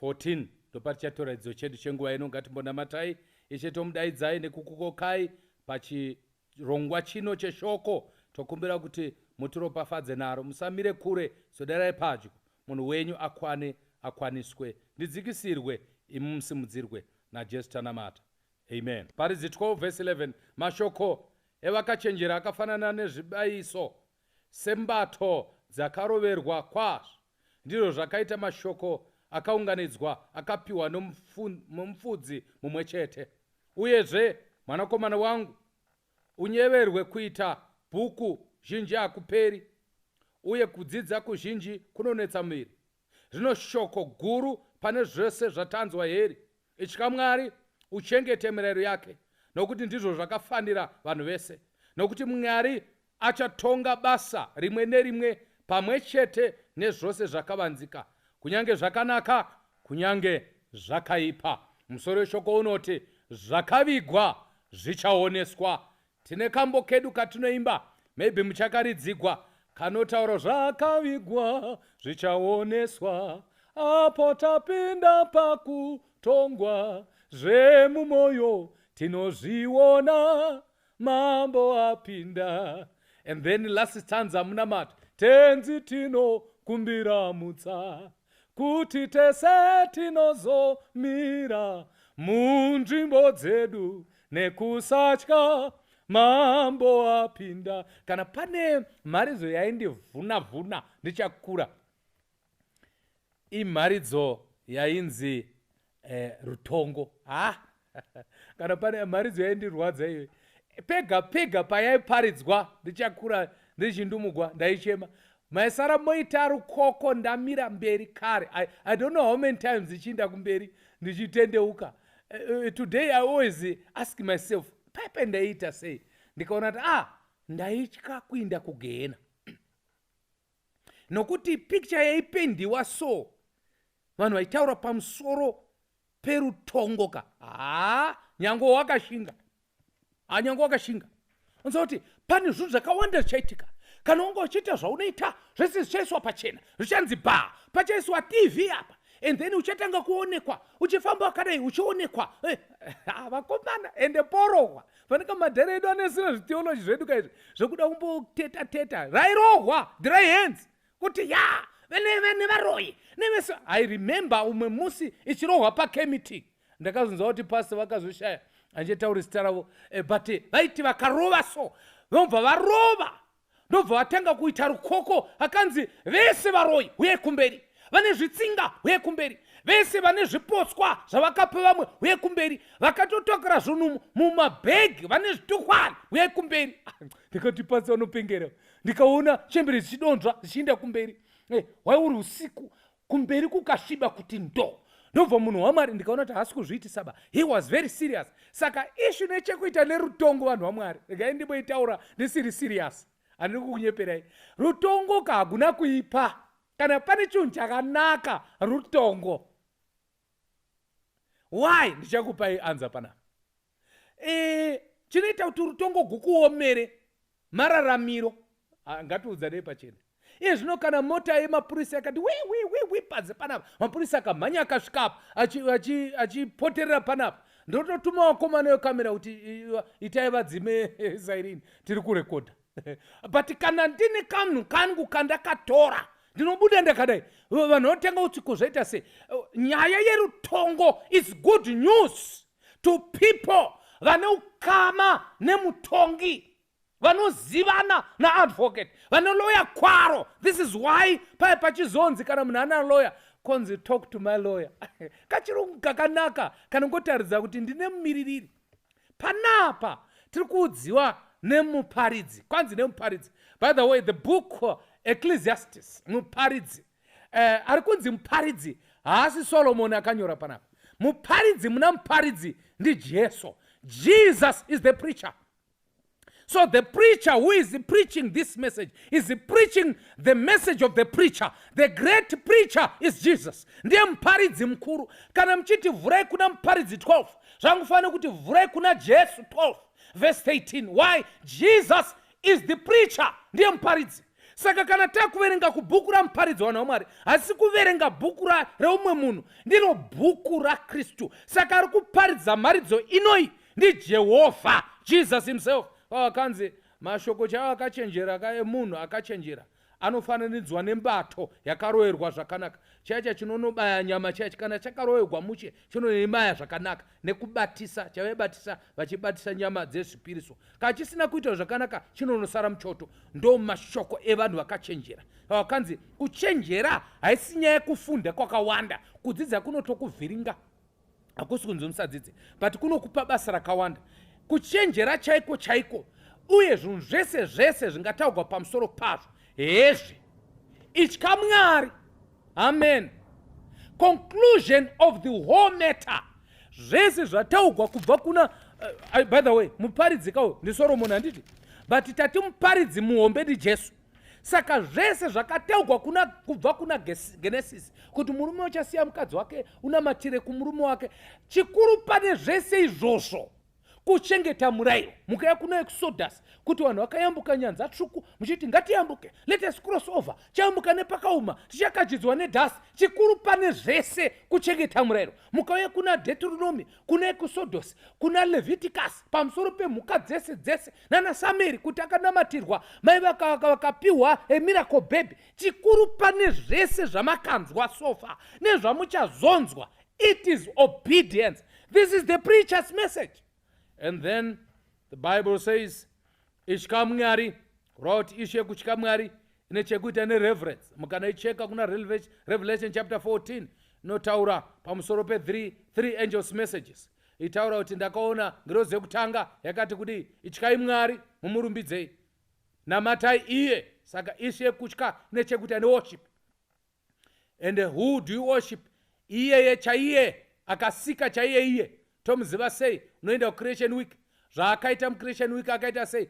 14 ndopatichatora idzo chedu chenguva ino ngatimbonamatai ishe tomudaidzai nekukukokai pachirongwa chino cheshoko tokumbira kuti mutiropafadze naro musamire kure soderai padyo munhu wenyu akwane akwaniswe ndidzikisirwe imi musimudzirwe najesu tanamata amen paridzi 12 vese 11 mashoko evakachenjera akafanana nezvibayiso sembato dzakaroverwa kwazvo. Ndizvo zvakaita mashoko akaunganidzwa akapiwa nomufudzi mumwe chete. Uyezve, mwanakomana wangu, unyeverwe kuita bhuku zhinji hakuperi, uye kudzidza kuzhinji kunonetsa muviri. Zvino shoko guru pane zvese zvatanzwa heri, Itya Mwari, uchengete mirayiro yake, nokuti ndizvo zvakafanira vanhu vese. Nokuti Mwari achatonga basa rimwe nerimwe pamwe chete nezvose zvakavanzika, kunyange zvakanaka, kunyange zvakaipa. Musoro weshoko unoti, Zvakavigwa zvichaoneswa, Tine kambo kedu katinoimba maybe muchakaridzigwa kanotaura zvakavigwa zvichaoneswa apo tapinda pakutongwa zvemumoyo tinozviona mambo apinda and then last stanza munamati tenzi tinokumbira mutsa kuti tese tinozomira munzvimbo dzedu nekusatya mambo apinda kana pane mharidzo yaindivhuna vhuna ndichakura imharidzo yainzi eh, rutongo ha kana pane mharidzo yaindirwadza iyoyi pega pega payaiparidzwa ndichakura ndichindumugwa ndaichema maisara moita rukoko ndamira mberi kare I, i don't know how many times ichiinda kumberi ndichitendeuka uh, today i always ask myself paipai ndaiita sei ndikaona kuti ah ndaitya kuinda kugehena nokuti picture yaipendiwa so vanhu vaitaura pamusoro perutongoka haa nyange wakashinga anyanga wakashinga unza kuti pane zvinhu zvakawanda zvichaitika kana unge uchiita zvaunoita zvese zvichaiswa pachena zvichanzi bha pachaiswa tv apa and then uchatanga kuonekwa uchifamba wakadai uchionekwa eh, ah, vakomana ende porohwa fanaka madhara edu anesina zvitheology zvedu ka izvi zvekuda kumboteta teta rairohwa dry hands kuti ya vene vene varoyi neveso i remember umwe musi ichirohwa pakemeeting ndakazonzwa kuti pasi vakazoshaya handitauri zita ravo eh, but eh, vaiti vakarova so vobva varova ndobva vatanga kuita rukoko akanzi vese varoyi uye kumberi vane zvitsinga uye kumberi vese vane zvipotswa zvavakapa vamwe uye kumberi vakatotokera zvinhu mumabhegi vane zvitukwana uye kumberi ah, ndikati pasi vanopengera ndikaona chembere zvichidonzva zvichienda kumberi eh, waiuri usiku kumberi kukasviba kuti ndo ndobva munhu wamwari ndikaona kuti haasi kuzviitisaba he was very serious saka ishu nechekuita nerutongo vanhu vamwari regai ndimboitaura ndisiri serious handiri kukunyeperai rutongo ka hakuna kuipa kana pane chinhu chakanaka rutongo why ndichakupai anza panapa e, chinoita kuti rutongo gukuomere mararamiro ah, ngatiudzanei pachena iye zvino kana mota yemapurisa yakati wiwiwiwi panze panapa mapurisa akamhanya akasvika apa achipoterera achi, achi panapa ndototuma wakomana wekamera kuti itai vadzime zairini tiri kurekodha but kana ndine kanhu kangu kandakatora ndinobuda ndakadai vanhu vanotenga utsiko zvaita se nyaya yerutongo is good news to people vane ukama nemutongi vanozivana naadvocate vane loya kwaro this is why paye pachizonzi kana munhu ana loya konzi talk to my lawyer kachirungu kakanaka kanongotaridza kuti ndine mumiririri panapa tiri kuudziwa nemuparidzi kwanzi nemuparidzi by the way the book uh, ecclesiastes muparidzi uh, ari kunzi muparidzi haasi solomoni akanyora panapa muparidzi muna muparidzi ndijesu jesus is the preacher so the preacher who is preaching this message is preaching the message of the preacher the great preacher is jesus ndiye muparidzi mukuru kana muchiti vhurai kuna muparidzi 12 zvangufanira kuti vhurai kuna jesu 12 verse 13 why jesus is the preacher ndiye muparidzi saka kana takuverenga kubhuku ramuparidzi wanhu wamwari hasi kuverenga bhuku reumwe munhu ndiro bhuku rakristu saka ari kuparidza mharidzo inoi ndijehovha jesus himself akanzi oh, mashoko chaiwo akachenjera kaemunhu akachenjera anofananidzwa nembato yakaroerwa zvakanaka chaicha chinonobaya nyama chaicha kana chakaroerwa mushe chinonemaya zvakanaka nekubatisa chavaibatisa vachibatisa nyama dzezvipiriso kana chisina kuita zvakanaka chinonosara muchoto ndo mashoko evanhu vakachenjera vakanzi kuchenjera haisi nyaya yekufunda kwakawanda kudzidza kunotokuvhiringa hakusi kunzi musadzidze but kunokupa basa rakawanda kuchenjera chaiko chaiko uye zvinhu zvese zvese zvingataugwa pamusoro pazvo hezvi itya mwari amen conclusion of the whole matter zvese zvataugwa kubva kuna uh, by the way muparidzika uyo ndisoromoni handiti but tati muparidzi muhombe ndijesu saka zvese zvakataugwa kuna kubva kuna genesis kuti murume uchasiya mukadzi wake unamatire kumurume wake chikuru pane zvese izvozvo kuchengeta murairo mukaya kuna exodus kuti vanhu vakayambuka nyanza tsvuku muchiti ngatiyambuke letus cross over chayambuka nepakauma tichakachidzwa nedhasi chikuru pane zvese kuchengeta murairo mukauya kuna detronomi kuna ekusodhosi kuna leviticus pamusoro pemhuka dzese dzese nana sameri kuti akanamatirwa mai vakapiwa emiracle baby chikuru pane zvese zvamakanzwa sofa nezvamuchazonzwa it is obedience this is the preachers message and then the bible says Itya Mwari, kureva kuti ishu yekutya Mwari ine chekuita nereverence. Mukanoicheka kuna Revelation chapter 14 inotaura pamusoro pe 3 three angels messages itaura kuti ndakaona ngirozi yekutanga yakati kudii ityai mwari mumurumbidzei namatai iye saka ishu yekutya ine chekuita neworship and who do you worship iyeye chaiye akasika chaiye iye tomuziva sei unoenda kucreation week zvaakaita mucreation week akaita sei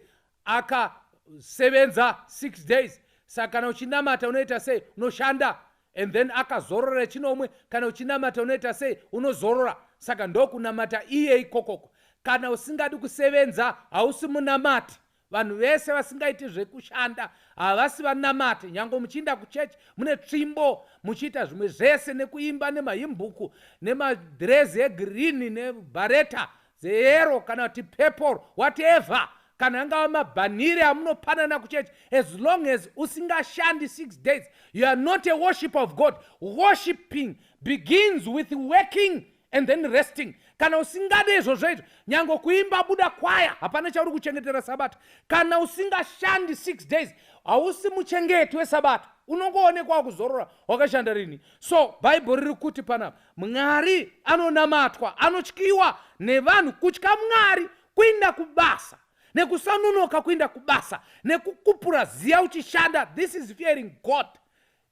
akasevenza six days saka kana uchinamata unoita sei unoshanda and then akazorora chinomwe kana uchinamata unoita sei unozorora saka ndokunamata iye ikokoko kana usingadi kusevenza hausi munamati vanhu vese vasingaiti zvekushanda havasi vanamati nyange muchiinda kuchechi mune tsvimbo muchiita zvimwe zvese nekuimba nemahimbuku nemadhirezi egirini nebhareta dzeyero kana kuti pepple whatever kana angava mabhanire amunopanana kuchechi as long as usingashandi six days you are not a worship of god worshipping begins with working and then resting kana usingade izvozvo izvo nyange kuimba buda kwaya hapana chauri kuchengetera sabata kana usingashandi six days hausi muchengeti wesabata unongoonekwa kuzorora wakashanda rini so bhaibheri riri kuti panapa mwari anonamatwa anotyiwa nevanhu kutya mwari kuinda kubasa nekusanunoka kuinda kubasa nekukupura ziya uchishanda this is fearing god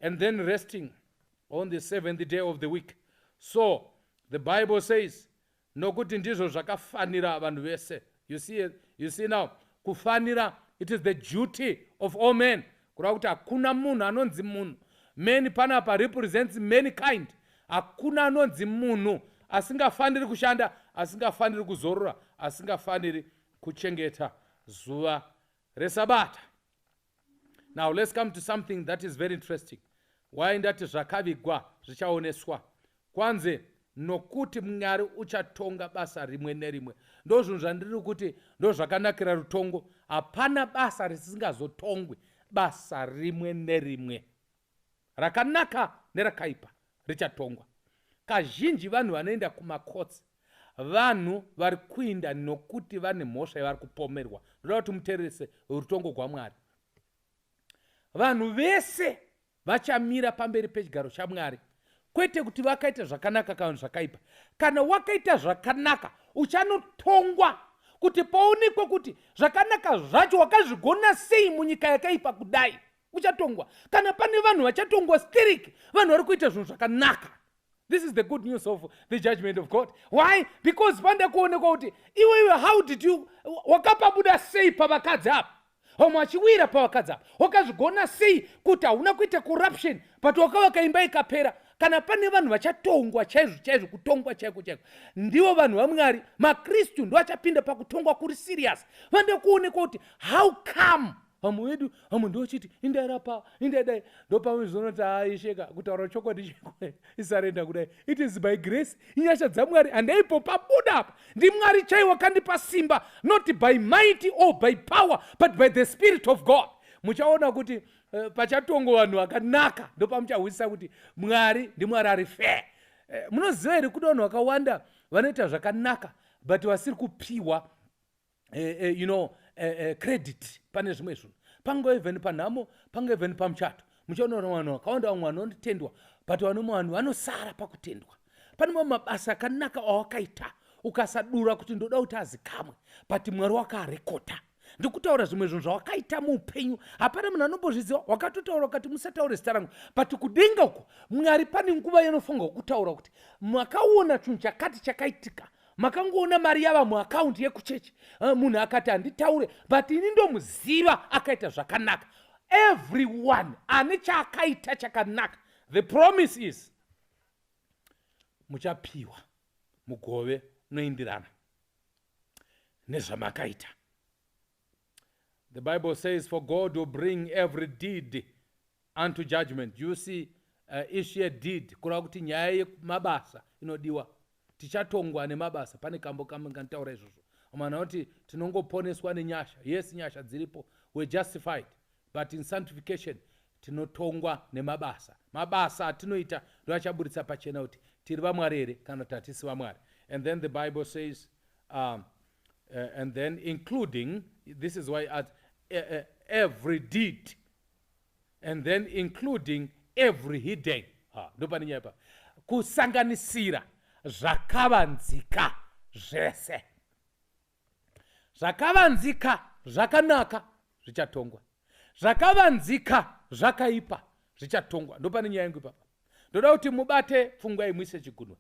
and then resting on the seventh day of the week so the bible says nokuti ndizvo zvakafanira vanhu vese you see, you see now kufanira it is the duty of all men kureva kuti hakuna munhu anonzi munhu many panapa represents many kind hakuna anonzi munhu asingafaniri kushanda asingafaniri kuzorora asingafaniri kuchengeta zuva resabata now let's come to something that is very interesting why ndati zvakavigwa zvichaoneswa kwanzi nokuti mwari uchatonga basa rimwe nerimwe ndo zvinhu zvandiri kuti ndo zvakanakira rutongo hapana basa risingazotongwi basa rimwe nerimwe rakanaka nerakaipa richatongwa kazhinji vanhu vanoenda kumakotsi vanhu vari kuinda nokuti vane mhosva yavari kupomerwa ndoda kuti mutererese rutongo rwamwari vanhu vese vachamira pamberi pechigaro chamwari kwete kuti vakaita zvakanaka kana zvakaipa kana wakaita zvakanaka uchanotongwa kuti paonekwe kuti zvakanaka zvacho wakazvigona sei munyika yakaipa kudai uchatongwa kana pane vanhu vachatongwa sterek vanhu vari kuita zvinhu zvakanaka this is the good news of the judgment of god why because panda kuonekwa kuti iwe iwe how did you wakapabuda sei pavakadzi apa vamwe vachiwira pavakadzi apa wakazvigona sei kuti hauna kuita corruption but wakavaka imba ikapera kana pane vanhu vachatongwa chaizvo chaizvo kutongwa chaiko chaiko ndivo vanhu vamwari makristu ndoachapinda pakutongwa kuri serious vanoda kuonekwa kuti how come vamwe vedu vamwe ndochiti indairapa indaidai ndopamizona kuti aisheka kutaura chokwadi chekwe isarenda kudai it is by grace inyasha dzamwari handaipo pabuda apa ndimwari chaiwo kandipa simba not by mighty or by power but by the spirit of god muchaona kuti uh, pachatongo vanhu vakanaka ndopamuchahwisisa kuti mwari ndimwari ari fair uh, munoziva here kuda vanhu vakawanda vanoita zvakanaka but vasiri kupiwa eh, eh, you know eh, eh, credit pane zvimwe zvinhu pango even panhamo pango even pamuchato muchaona kuti vanhu vakawanda vamwe vanotendwa but vanomwe vanhu vanosara pakutendwa pane mamwe mabasa akanaka awakaita ukasadura kuti ndoda kuti azikamwe but mwari wakarekota ndikutaura zvimwe zvinhu zvawakaita muupenyu hapana munhu anombozviziva wakatotaura ukati musataure zita rangu but kudenga uko mwari pane nguva yanofunga kutaura kuti makaona chinhu chakati chakaitika makangoona mari yava muakaundi yekuchechi eh, munhu akati handitaure but ini ndomuziva akaita zvakanaka everyone ane chaakaita chakanaka the promise is muchapiwa mugove unoindirana nezvamakaita The Bible says, For God will bring every deed unto judgment. You see, uh, issue a deed, kureva kuti nyaya yemabasa inodiwa. Tichatongwa nemabasa, pane kambo kamwe kanotaura izvozvo. Amana kuti tinongoponeswa nenyasha. Yes, nyasha dziripo. We're justified. But in sanctification, tinotongwa nemabasa. Mabasa atinoita ndoachaburitsa pachena kuti tiri vamwari here kana kuti hatisi vamwari. And then the Bible says, um, uh, and then including this is why i add uh, uh, every deed and then including every hidden ha ndo pane nyaya pa kusanganisira zvakavanzika zvese zvakavanzika zvakanaka zvichatongwa zvakavanzika zvakaipa zvichatongwa ndopane nyaya yangu ipapa ndoda kuti mubate pfungwa imwise chigunwa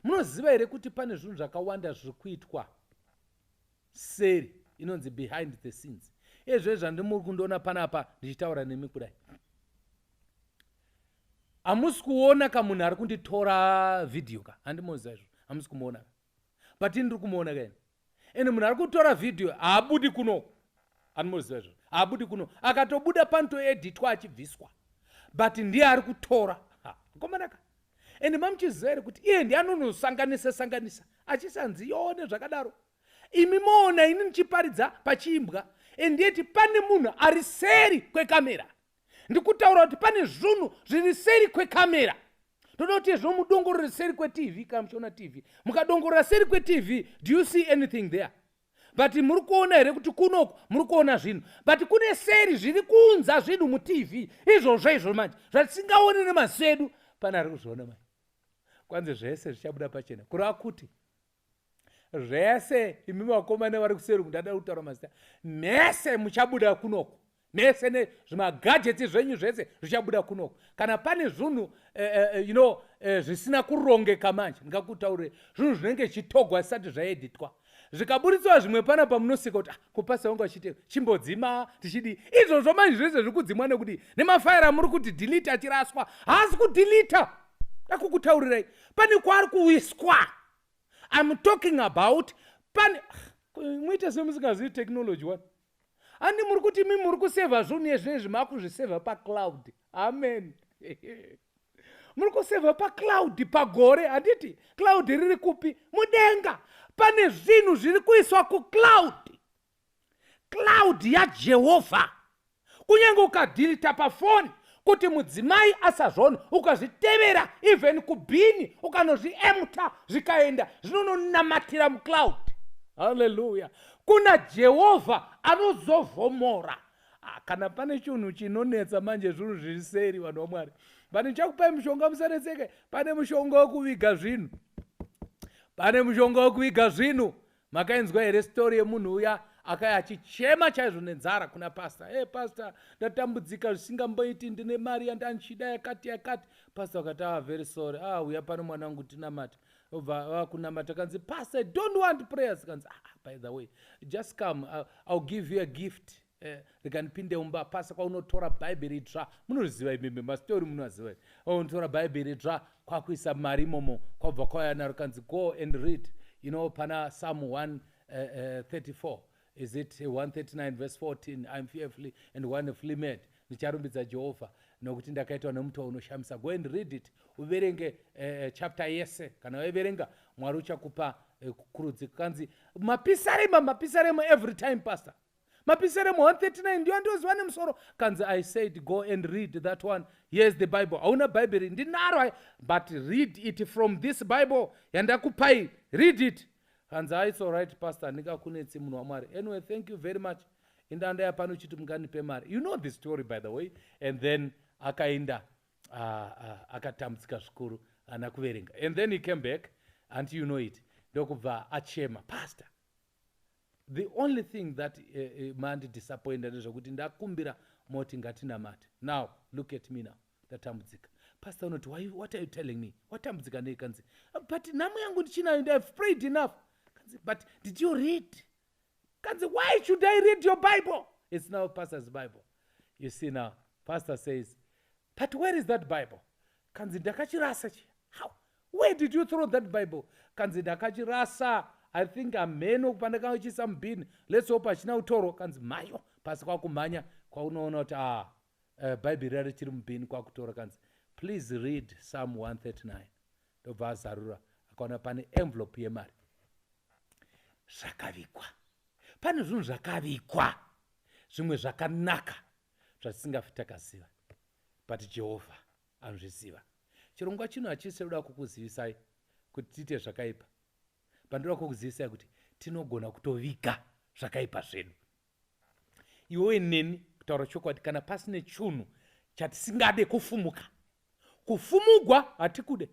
munoziva here kuti pane zvinhu zvakawanda zviri kuitwa seri inonzi behind the scenes ezve zvandimuri kundiona panapa ndichitaura nemi kudai hamusi kuona ka munhu ari kunditora vhidhiyo ka handimoziva izvo hamusi kumuona but ini ndiri kumuona kaini and munhu ari kutora vhidhiyo haabudi kuno anomuziva izvozvo haabudi kuno akatobuda panotoeditwa achibviswa but ndiye ari kutora komanaka and mamuchiziva here kuti iye ndiye anonosanganisa sanganisa achisanzi yone zvakadaro imi moona ini ndichiparidza pachiimbwa and yeti pane munhu ari seri kwekamera ndikutaura kuti pane zvunhu zviri seri kwekamera ndoda kuti izvo mudongorore seri kwetv kana muchiona tv mukadongorora seri kwetv do you see anything there but muri kuona here kuti kunoku muri kuona zvinhu but kune seri zviri kunza zvinhu mutv izvozvo izvo manje zvatisingaoni nemaziso edu pane ari kuzviona manje kwanzi zvese zvichabuda pachena kureva kuti zvese imi vakomane vari kuseri kundada kutaura mazita mese muchabuda kunoko mese nezvimagadgets zvenyu zvese zvichabuda kunoko kana pane zvunhu uh, eh, uh, eh, you know uh, zvisina kurongeka manje ndingakutaurire zvinhu zvinenge chitogwa zisati zvaeditwa zvikaburitswa zvimwe pana pamunosika kuti ah, kupasa wangu achite chimbodzima tichidii izvozvo manje zvese zviri kudzimwa nekuti nemafaira muri kuti dhelita achiraswa haasi kudhelita akukutaurirai pane kwaari kuwiswa im talking about pane muite semusingazivi technology one handi muri kuti mi muri kusevha zvinhu yezvinezvi makuzvisevha pacloud amen muri kusevha pacloud pagore handiti cloud riri kupi mudenga pane zvinhu zviri kuiswa kucloud cloud yajehovha kunyange ukadhirita pafoni kuti mudzimai asazvona ukazvitevera even kubhini ukanozviemta zvikaenda zvinononamatira mucloud haleluya kuna jehovha anozovhomora ah, kana pane chinhu chinonetsa manje zvinhu zviri seri vanhu vamwari but ndichakupai mushonga musanetseke pane mushonga wekuviga zvinhu pane mushonga wekuviga zvinhu makainzwa here story yemunhu uya akaya achichema chaizvo nenzara kuna pastor e hey, pastor ndatambudzika zvisingamboiti ndine mari yandandichida yakati yakati pastor akati ava ah, very sorry a ah, uya pano mwana wangu tinamata obva vakunamata kanzi pastor don't want prayers kanzi ah, by the way just come i'll give you a gift Eh, rega ndipinde umba pasa kwaunotora bhaibheri dzva munoriziva imimi masitori munoaziva iri unotora bhaibheri dzva kwakuisa mari imomo kwabva kwauya naro kanzi go and read you know pana psalm 134 eh, eh, is it 139 verse 14 iam fearfully and wonderfully made ndicharumbidza jehovha nokuti ndakaitwa nemutoo unoshamisa go and read it uverenge uh, chapter yese kana waiverenga mwari uchakupa uh, kukurudzi kanzi mapisarema mapisarema every time pastor mapisere mu 139 ndiyo andoziva nemusoro kanzi i said go and read that one here's the bible hauna bhaibheri ndinaro but read it from this bible yandakupai read it hanzi a it's alright pastor handingakunetsi munhu wamwari anyway thank you very much indanda yapano chiti munganipe mari you know the story by the way and then akaenda uh, uh, akatambudzika zvikuru ana kuverenga and then he came back anti you know it ndokubva achema pastor the only thing that uh, eh, uh, eh, mandi disappointa ndezvekuti ndakumbira moti ngatinamate now look at me now ndatambudzika pastor unoti what are you telling me watambudzika nei kanzi but nhamo yangu ndichinayo ndi have prayed enough kanzi but did you read kanzi why should i read your bible it's now pastor's bible you see now pastor says but where is that bible kanzi ndakachirasa chiya how where did you throw that bible kanzi ndakachirasa i think amheno pandakanga chiisa mubin let's hope hachina utoro kanzi mhayo pasi kwakumhanya kwaunoona kuti a uh, eh, bhaibheri rari chiri mubin kwakutora kanzi please read psalm 139 ndobva azarura akaona pane envelope yemari zvakavigwa pane zvinhu zvakavigwa zvimwe zvakanaka zvatisingafi takaziva but jehovha anozviziva chirongwa chino hachisi choda kukuzivisai kuti tiite zvakaipa but ndoda kukuzivisai kuti tinogona kutoviga zvakaipa zvedu iwowe neni kutaura chokwadi kana pasine chunhu chatisingade kufumuka kufumugwa hatikude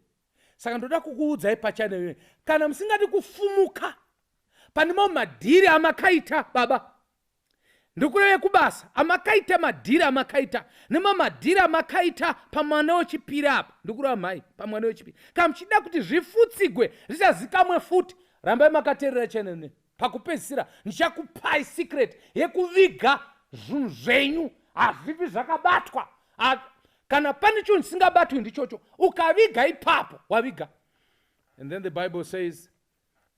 saka ndoda kukuudzai pachane kana musingadi kufumuka pane mamwe madhiri amakaita baba ndikureve kubasa amakaita madhiri amakaita nemamadhiri amakaita pamwana wechipiri apa ndikureva mhai pamwana wechipiri kana muchida kuti zvifutsigwe zvichazikamwe futi rambai makaterera chenene pakupedzisira ndichakupai secret yekuviga zvinhu zvenyu hazvipi zvakabatwa kana pane chinhu chisingabatwi ndichocho ukaviga ipapo waviga and then the bible says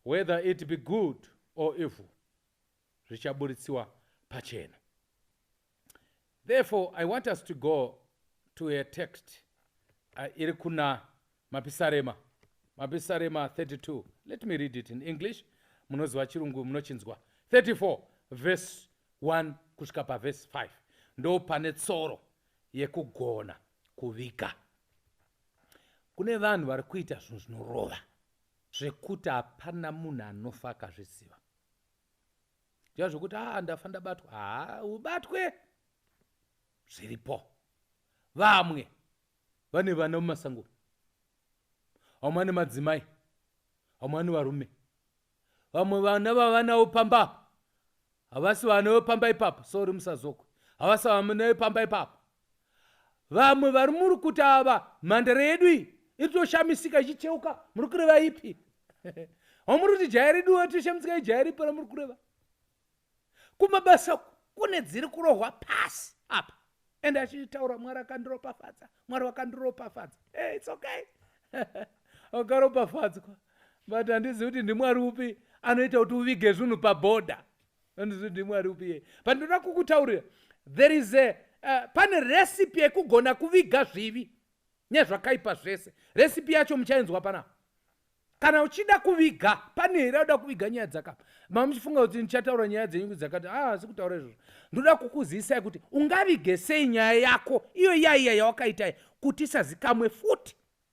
whether it be good or evil zvichabuditsiwa pachena therefore i want us to go to a text uh, iri kuna mapisarema mapisarema 32 let me read it in english munoziva chirungu munochinzwa 34 verse 1 kusvika paverse 5 ndo pane tsoro yekugona kuviga kune vanhu vari kuita zvinhu zvinorova zvekuti hapana munhu anofa akazviziva zviya zvokuti aa ndafa ndabatwa haa ubatwe zviripo vamwe vane vana mumasanguro vamwe vane madzimai vamwe vane varume vamwe vana vavanawo pamba apa havasi vana vepamba ipapo sori musazokwe havasi vana vepamba ipapo Vamwe vari muri kuti ava mhandara yedu iyi itoshamisika ichicheuka muri kureva ipi hamuri kuti jaya redu itoshamisika ijaya ripi ramuri kureva kumabasa kune dziri kurohwa pasi apa ende achitaura mwari akandiropafadza mwari wakandiropafadza hey, its okay wakaropafadzwa but handizivi kuti ndimwari upi anoita kuti uvige zvinhu pabhodha ndizvo ndimwari upi yeye but ndoda kukutaurira there is a uh, pane recipe yekugona kuviga zvivi nezvakaipa zvese recipe yacho muchainzwa pana kana uchida kuviga pane here auda kuviga nyaya dzakapa mama muchifunga kuti ndichataura nyaya dzenyu dzakati a asi kutaura izvozvo ndoda kukuzivisa kuti ungavige sei nyaya yako iyo yaiya yawakaita kuti isazikamwe futi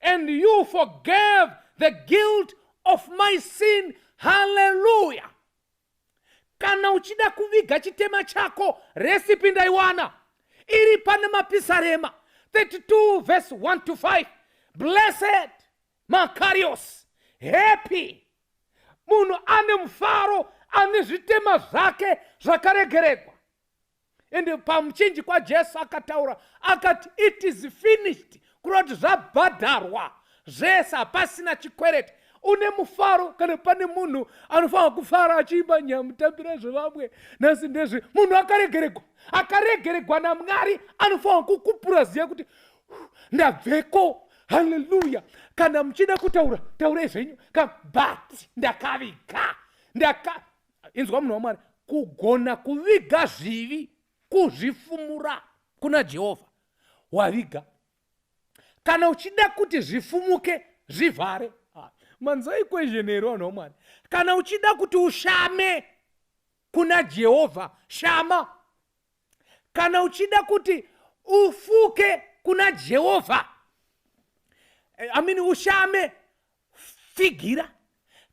and you forgave the guilt of my sin haleluya kana uchida kuviga chitema chako resipi ndaiwana iri pane mapisarema 32 verse 1 to 5 blessed makarios happy munhu ane mufaro ane zvitema zvake zvakaregeregwa ende pamuchinji kwajesu akataura akati it is finished kureva kuti zvabhadharwa zvese hapasina chikwereti une mufaro kana pane munhu anofanira kufara achiimba nyamutambira zvevamwe nhasi ndezve munhu akaregeregwa akaregeregwa namwari anofanira kukupura ziya kuti ndabveko haleluya kana muchida kutaura taurai zvenyu ka but ndakaviga ndaka inzwa munhu wamwari kugona kuviga zvivi kuzvifumura kuna jehovha waviga kana uchida kuti zvifumuke zvivhare ah, manzwa equation here vanhu vamwari kana uchida kuti ushame kuna jehovha shama kana uchida kuti ufuke kuna jehovha eh, amini ushame Tsigira.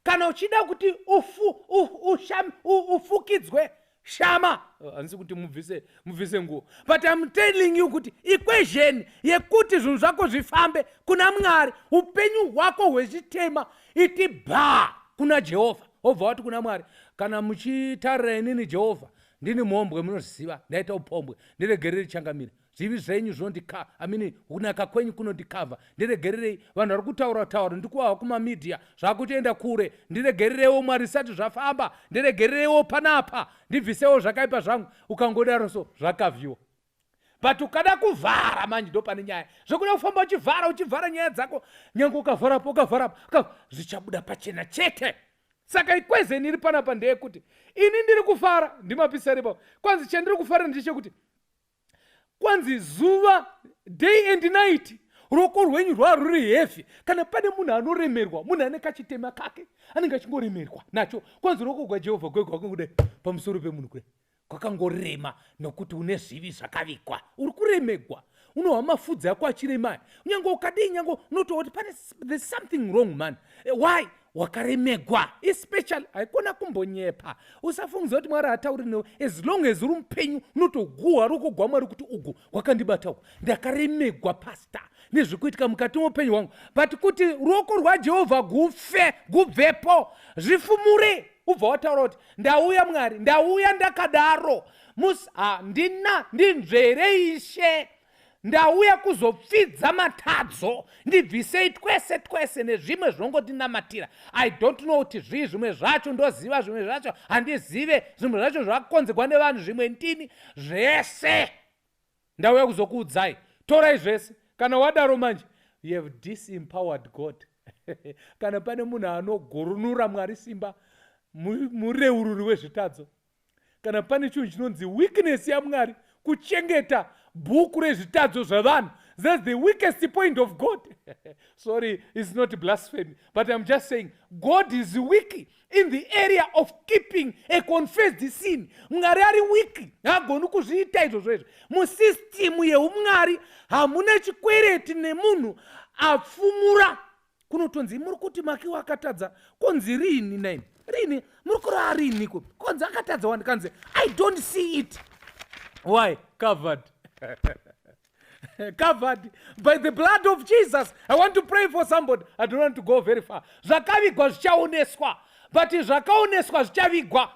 Kana uchida kuti ufu, u, usham, u, ufukidzwe shama handisi kuti mubvise mubvise nguo but im telling you kuti equation yekuti zvinhu zvako zvifambe kuna mwari upenyu hwako hwechitema iti bha kuna jehovha wobva wati kuna mwari kana muchitarira inini jehovha ndini mhombwe munoziva ndaita upombwe ndiregerere changamire zvivi zvenyu zvondika amini kunaka kwenyu kunondikavha ndiregererei vanhu vari kutaura taura ndikuwawa kumamedia zvakutoenda kure ndiregerereiwo mwari zvisati zvafamba ndiregerereiwo panapa ndibvisewo zvakaipa zvangu ukangodaro so zvakavhiwa but ukada kuvhara manje ndo pane nyaya zvekuda kufamba uchivhara uchivhara nyaya dzako nyange ukavharapo ukavharapo zvichabuda pachena chete saka ikwezeni iri panapa ndeyekuti ini ndiri kufara ndimapisaripa kwanzi chandiri kufara ndechekuti kwanzi zuva day and night ruoko rwenyu rwaruri heavy kana pane munhu anoremerwa munhu ane kachitema kake anenge achingoremerwa nacho kwanzi ruoko gwajehovha gwe gwakangodai pamusoro pemunhu kudai kwakangorema nokuti une zvivi zvakavigwa uri kuremegwa unohwa mafudzi ako achiremaya unyange ukadii nyange unotooti pane there's something wrong man eh, why wakaremegwa especially haikona kumbonyepa usafungidza kuti mwari hatauri newe as long as uri mupenyu unotoguhwa ruko gwamwari kuti ugu wakandibata uku ndakaremegwa pasta nezvekuitika mukati moupenyu hwangu but kuti ruoko rwajehovha gufe gubvepo zvifumure ubva wataura kuti ndauya mwari ndauya ndakadaro mus handina ndinzvere ishe ndauya kuzopfidza matadzo ndibvisei twese twese nezvimwe zvinongotinamatira i don't know kuti zvii zvimwe zvacho ndoziva zvimwe zvacho handizive zvimwe zvacho zvakakonzerwa nevanhu zvimwe ndini zvese ndauya kuzokuudzai torai zvese kana wadaro manje you have disempowered god kana pane munhu anogurunura mwari simba mureururi wezvitadzo kana pane chinhu chinonzi weakness yamwari kuchengeta bhuku rezvitadzo zvavanhu thats the weakest point of god sorry is not blasphemy but im just saying god is weak in the area of keeping a confessed sin mwari ari weak haagoni kuzviita izvozvo izvo musistimu yeumwari hamuna chikwereti nemunhu apfumura kunotonzi muri kuti makiwa akatadza konzi riini naini riini muri kurava riiniko konzi akatadza wani kanzi i don't see it why covered covered by the blood of jesus i want to pray for somebody i don't want to go very far zvakavigwa zvichaoneswa but zvakaoneswa zvichavigwa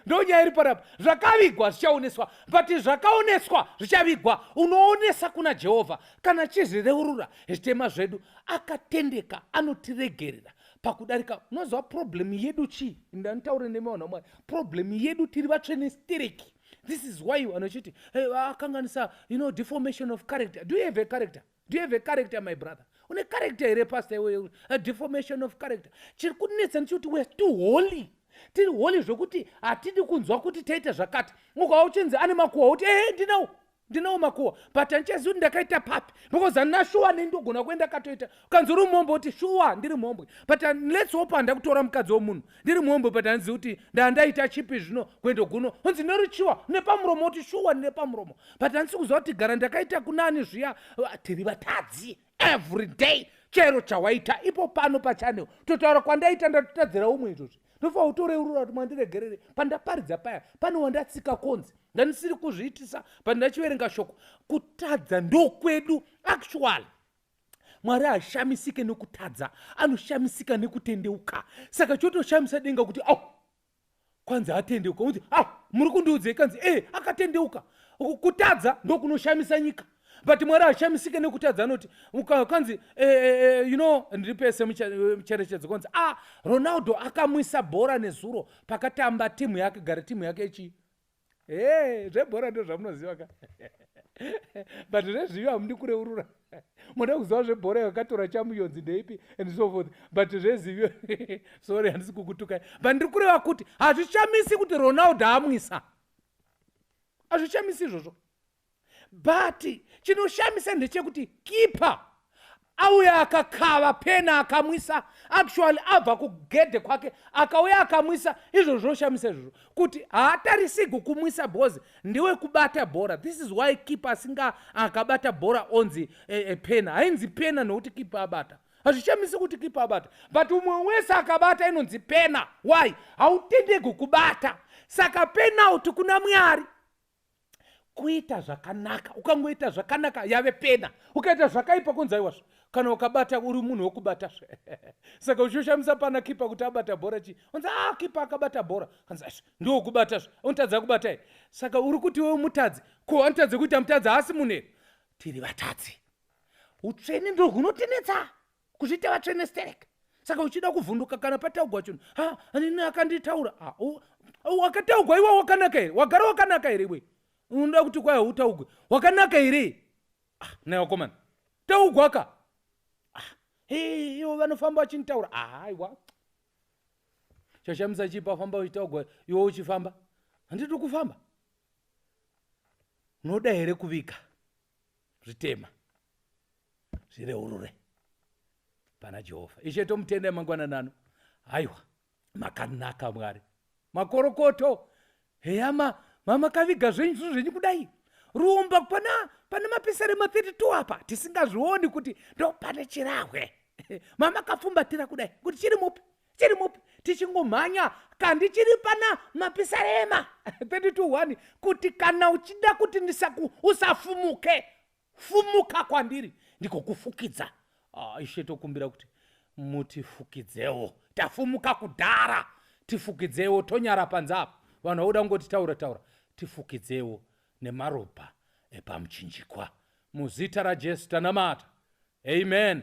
ndonyaya iri parapa zvakavigwa zvichaoneswa but zvakaoneswa zvichavigwa unoonesa kuna jehovha Kana chizvireurura zvitema zvedu akatendeka anotiregerera pakudarika unoziva problem yedu chii ndanitaure nemi vanhu vamwari problem yedu tiri vatsvene stereki this is why vanhu vachiti hey, akanganisa you know deformation of character do you have a character do you have a character my brother une character here pastor iwe a deformation of character chiri kunetsa ndichikuti weare too holy tiri holy zvekuti hatidi kunzwa kuti taita zvakati ukava uchinzi ane makuwa uti ehe ndinawo ndinawo makuwa but handichazivi kuti ndakaita papi because handina shuwa nei ndogona kuenda katoita ukanzi uri mhombwe kuti shuwa ndiri mhombwe but lets hope handa kutora mukadzi womunhu ndiri mhombwe but handizivi kuti ndandaita chipi zvino kuendo guno unzi norichiwa nepamuromo kuti shuwa nepamuromo but handisi kuziva kuti gara ndakaita kunani zviya ah, tiri vatadzi every day chero chawaita ipo pano pachanel totaura kwandaita ndatotadzira umwe izvozvi ndofa utoreurura kuti mwandiregerere pandaparidza paya pane wandatsika konzi ndandisiri kuzviitisa pandachiverenga shoko kutadza ndokwedu actually mwari hashamisike nekutadza anoshamisika nekutendeuka saka chotoshamisa denga kuti au oh, kwanzi atendeuka kuti a ah, muri kundiudzei kanzi e akatendeuka kutadza ndokunoshamisa nyika but mwari hashamisike nekutadza anoti kanzi eh, eh, eh, you know ndiri pese mucherechedzo kwanzi ah ronaldo akamwisa bhora nezuro pakatamba timu yake gara timu yake ichi e zvebhora ndo zvamunoziva ka but zvezvivi hamundi kureurura moda kuziva zvebhora yakatora chamuyonzi ndeipi and so forth but zvezivi sorry handisi kukutukai but ndiri kureva kuti hazvichamisi kuti ronaldo amwisa hazvichamisi izvozvo but chinoshamisa ndechekuti keeper auya akakava pena akamwisa actually abva kugedhe kwake akauya akamwisa izvo zvinoshamisa izvozvo kuti haatarisigi kumwisa bhozi ndiwe kubata bhora this is why keeper asinga akabata bhora onzi e, e, pena hainzi pena nokuti keeper abata hazvishamisi kuti keeper abata but umwe wese akabata inonzi pena why hautendegi kubata saka penalty kuna mwari kuita zvakanaka ukangoita zvakanaka yave pena ukaita zvakaipa kunzi aiwa zve kana ukabata uri munhu wokubata zve saka uchishamisa pana kipa kuti abata bhora chii unzi a ah, kipa akabata bhora kanzi asve ndiwokubata zve unotadza kubata ye saka uri kuti wewe mutadzi ko anotadze kuita mutadzi haasi munhu here tiri vatadzi utsvene ndo hunotinetsa kuzviita vatsvene sterek saka uchida kuvhunduka kana pataugwa chinhu ha anini akanditaura wakataugwa iwe wakanaka here wagara wakanaka here iwe unoda kuti kwaya utaugwe wakanaka here ah, naye wakomana taugwa ka ah, ivo vanofamba vachinitaura ah, aiwa chashamisa chipa famba uchitaugwa iwe uchifamba handiti kufamba unoda here kuvika zvitema zvine urure pana jehovha ishe tomutenda emangwanani ano haiwa makanaka mwari makorokoto heyama mamakaviga zvenyu zvinhu zvenyu kudai rumba pana pane mapisare ma32 apa tisingazvioni kuti ndo pane chirahwe mamakafumbatira kudai kuti chiri mupi chiri mupi tichingomhanya kandi chiri pana mapisarema 32 1 kuti kana uchida kuti ndisaku usafumuke fumuka kwandiri ndigokufukidza ah, ishe tokumbira kuti mutifukidzewo tafumuka kudhara tifukidzewo tonyara panze apa vanhu vauda kungoti taura taura tifukidzewo nemaropa epamuchinjikwa muzita rajesu tanamata amen